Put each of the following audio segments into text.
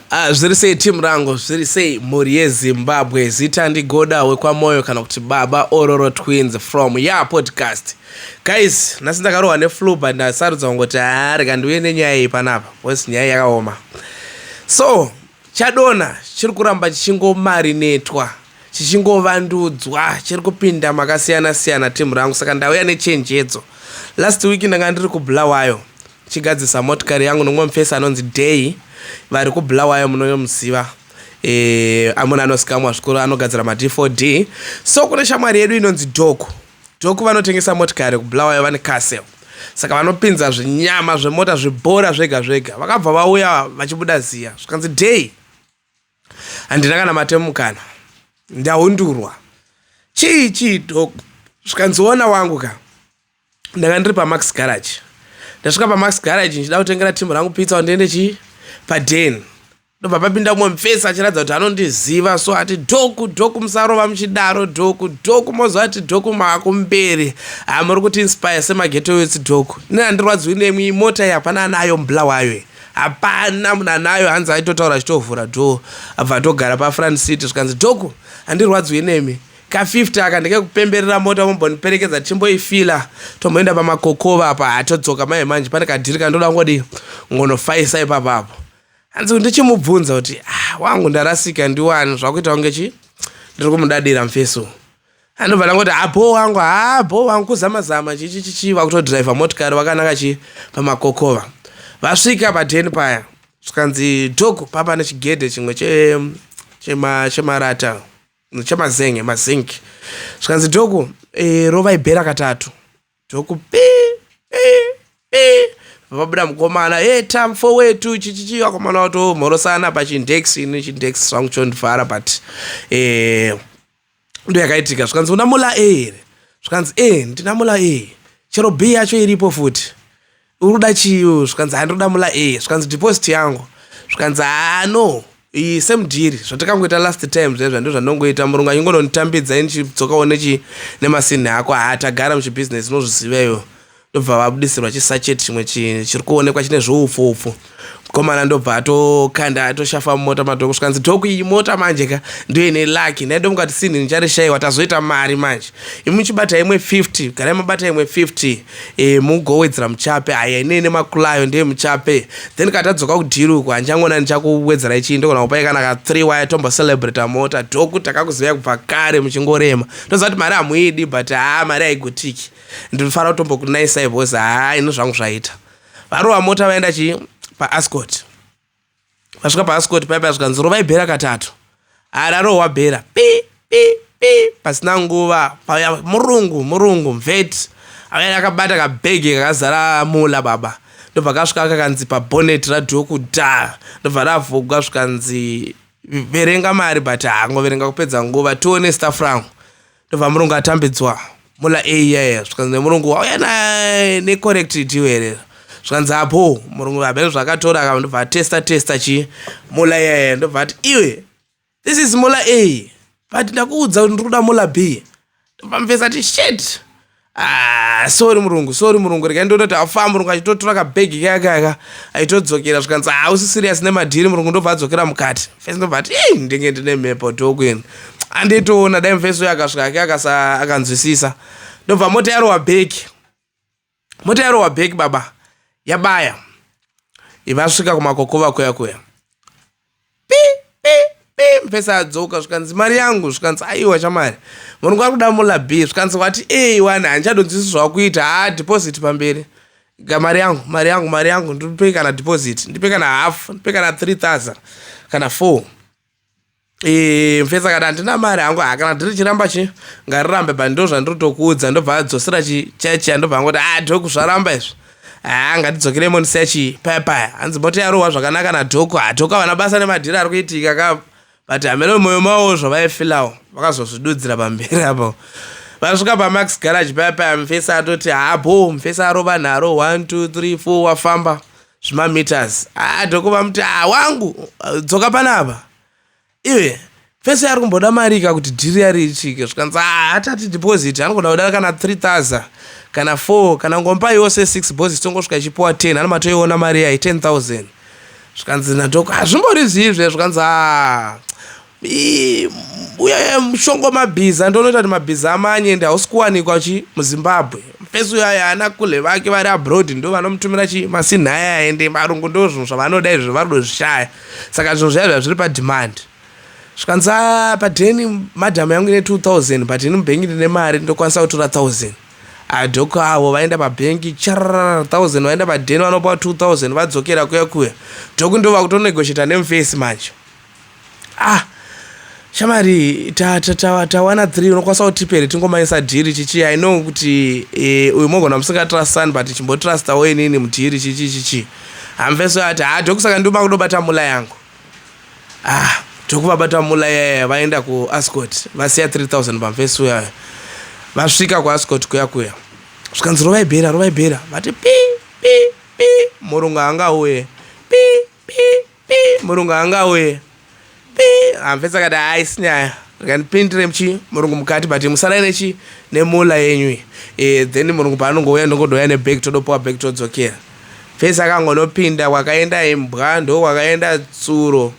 Ah, zviri sei team rangu zviri sei mhuri yezimbabwe zita ndigoda wekwamoyo kana kuti baba ororo twins from ya podcast guys nhasi ndakarohwa neflu but ndasarudza kungoti haa rega ndiuye nenyaya iyi panapa bcause nyaya yakaoma so chadona chiri kuramba chichingomarinetwa chichingovandudzwa chiri kupinda makasiyana siyana team rangu saka ndauya nechenjedzo last week ndanga ndiri kubulawayo chigadzisa motikari yangu nomwe mufesi anonzi day vari kubulawayo munoyomuziva e, amuna anosikamwa zvikuru anogadzira mad 4 d so kune shamwari yedu inonzi doku doku vanotengesa motikari kubulawayo vane casel saka vanopinza zvinyama zvemota zvibhora zvega zvega vakabva vauya vachibuda ziya zvikanzi day Handina kana mate mukana. Ndahundurwa. Chii chii dog? Zvikanzi ona wangu ka. Ndanga ndiri paMax Garage. Ndasvika paMax Garage ndichida kutengera team rangu pizza ndiende chii? Paden. Ndobva papinda umwe mfesi achiratidza kuti anondiziva so ati dhoku dhoku musarova muchidaro dhoku dhoku moziva kuti dhoku maakumberi hamuri kuti inspire semageto yotsi dhoku. Nina ndirwadziwi nemwi mota iyi hapana anayo mbla wayo iyi. Hapana munanayo hanzi aitotaura achitovhura door abva atogara pafront seat zvikanzi Dogo handirwadziwe nemi ka 50 aka ndekekupemberera mota momboniperekedza tichimboifila tomboenda pamakokova apa hatodzoka mai manje pane kadhiri kandoda kungodii ngonofaisa ipapa apo hanzi ndichimubvunza kuti ah, wangu ndarasika ndiwani zvakuita kunge chi ndiri kumudadira mfeso anobva ndangoti abho ah, wangu haa ah, bho wangu kuzama zama chichichichi vakutodhiraivha motikari vakanaka chi pamakokova vasvika paden paya zvikanzi dhogo papa nechigedhe chimwe chemarata chemazenge mazinki zvikanzi dhogo e, rovai bhera katatu Toku pi pi pi vabuda mukomana hey tam fo wetu chichichi vakomana vato mhorosana pachindex ini chindex zvangu chondivhara but eh ndo yakaitika zvikanzi una mula e here zvikanzi e ndina mula e chero b yacho iripo futi uri kuda chii iwewe zvikanzi haa ndiri kuda mula a zvikanzi deposit yangu zvikanzi haa no iyi same dhiri zvatakangoita last time zvaizva ndo zvandongoita murungu achingononditambidza ini chidzokawo nechi nemasinhi ako haa tagara muchibusiness unozviziva iwe ndobva vabudisirwa chisachet chimwe chiri kuonekwa chine zvoupfu upfu mkomana ndobva atokanda atoshafa mumota madhoko zvikanzi dhoko iyi mota manje ka ndo ine lucky ndaidomuka kuti sinhi ndicharishayiwa tazoita mari manje imuchibata imwe 50 garai mabata imwe 50 e, mugowedzera muchape haya ine ine makulayo ndeye muchape then kana tadzoka kudiruku handichangona ndichakuwedzera ichii ndogona kupai kana ka 3 waya tombo celebrata mota dhoko takakuzivai kubva kare muchingorema ndoziva kuti mari hamuidi but haa mari haigotiki ndinofanira kutombokunaisai bhozi haa ino zvangu zvaita varova mota vaenda chii paascot vasvika paascot paipa zvikanzi rovai bhera katatu ararohwa bhera pi pi pi pasina nguva pauya murungu murungu mveti avaya akabata kabhegi kakazara mula baba ndobva kasvika kakanzi pabonet radhuo kuda ndobva ravhugwa zvikanzi verenga mari but hangoverenga kupedza nguva tione staff rangu ndobva murungu atambidzwa mula a yaya zvikanzi nemurungu wauya naye necorrect deal here zvikanzi apo murungu vabene zvakatora ka ndobva atesta testa chii mula yaya ndobva ati iwe this is mula a but ndakuudza kuti ndiri kuda mula b ndobva mufesi ati shit Ah, sorry murungu sorry murungu rekai ndoona kuti afaa murungu achitotora kabhegi kayakayaka aitodzokera zvikanzi hausi ah, serious nemadhiri murungu ndobva adzokera mukati fesi ndobva ati ii ndinge ndine mhepo tokwini anditoona dai mufesi uyo akasvika ake akanzwisisa ndobva mota yarowa bheki mota yarowa bheki baba yabaya ivasvika kumakokova kuya kuya pi pi pi mupesa adzoka zvikanzi mari yangu zvikanzi aiwa chamari murume ari kuda mula b zvikanzi wati ei wani handichadonzisi zvakuita haa deposit pamberi ga mari yangu mari yangu mari yangu ndipe kana deposit ndipe kana half ndipe kana 3000 kana 4 Eh, mfesa kana handina mari hangu ha kana ndiri chiramba chi ngarirambe but ndo zvandiri tokuudza ndobva adzosera chichechi andobva angoti a ah, ndokuzvaramba izvi haa ngatidzokerei monisechi paya paya hanzi mota yarohwa zvakanaka nadhoko hadhoko havana basa nemadhiri ari kuitika ka but hameno moyo mawo zvavaifilawo vakazozvidudzira pamberi apo vasvika pamax garage paya paya mufesi atoti haabo mufesi arova nharo 1 2 3 4 wafamba zvimameters haa dhoko vamuti haa wangu dzoka panapa iye fese ari kumboda mari ka kuti dhiri yari ichike zvikanzi ah, hatati deposit anogona kuda kana 3000 kana 4 kana ngomba yose 6 bos tongosvika ichipiwa 10 ana matoiona mari yayi 10000 zvikanzi nadoko hazvimbori zviizve zvikanzi ah, uya mushongo mabhiza ndonoita kuti mabhiza amanye ende hausi kuwanikwa chi muzimbabwe fesi uyo aya ana kule vake vari abroad ndo vanomutumira chi masinhaya ende varungu ndo zvinhu zvavanoda izvi vari kudozvishaya saka zvinhu zvayo zvazviri pademand zvikanzi a padeni madham yangu ine 2000 but ini mubhengi ndine mari ndokwanisa kutora 1000 adhoko avo vaenda pabhengi charara 1000 vaenda padeni vanopa 2000 vadzokera kuya kuya dhoku ndo vakutonegosheta nemufesi manje ah Shamari ta, ta, ta, tawana three unokwanisa kutipere tingomaisa dhiri chichi i know kuti e, uyu mogona musingatrustan but chimbotrustawo inini mudhiri chichi chichi hamveso ati ha dokusaka nduma kudobata mula yangu ah tokuvabata mula yaya vaenda kuascot vasiya 3000 pamfesi uyayo vasvika kuascot kuya kuya zvikanzi rovaibhera rovaibhera vati pi pi pi murungu anga uye pi pi pi murungu anga auye pi amfesi akati haisi nyaya rikandipindire mchi murungu mukati but musarai nechi nemula yenyu e, then murungu paanongouya ndongodouya nebag todopiwa bag todzokera fesi akangonopinda kwakaenda imbwa ndo kwakaenda tsuro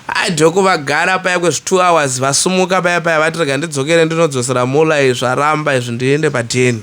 adhoko vagara paya kwezvitwo hours vasumuka paya paya vati rega ndidzokere ndinodzosera mula izvaramba izvi ndiende padheni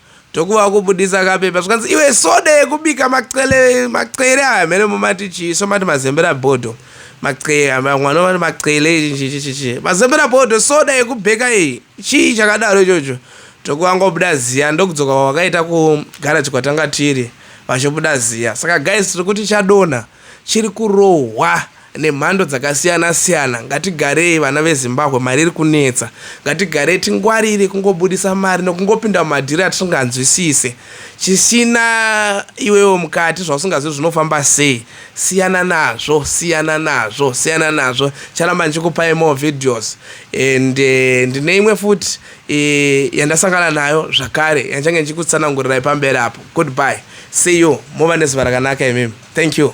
Tokuva kubudisa kapepa zvikanzi iwe soda yekubika maqele maqele aya mhene mumati chii so mati mazembera bodo maqele mwana vati maqele chichichichi mazembera bodo soda yekubheka iyi chii chakadaro ichocho tokuvangobuda ziya ndokudzoka kwavakaita kugara chikwatanga tiri vachobuda ziya saka guys tiri kuti chadonha chiri kurohwa nemhando dzakasiyana siyana ngatigarei vana vezimbabwe mari iri kunetsa ngatigarei tingwarire kungobudisa mari nokungopinda mumadhiri atisinganzwisise chisina iwewo mukati zvausingazivi zvinofamba sei siyana nazvo siyana nazvo siyana nazvo charamba ndichikupai more videos and eh, ndine imwe futi eh, yandasangana nayo zvakare yandichange ndichikutsanangurirai pamberi apo goodbye See you. Mova nezuva rakanaka imimi. Thank you.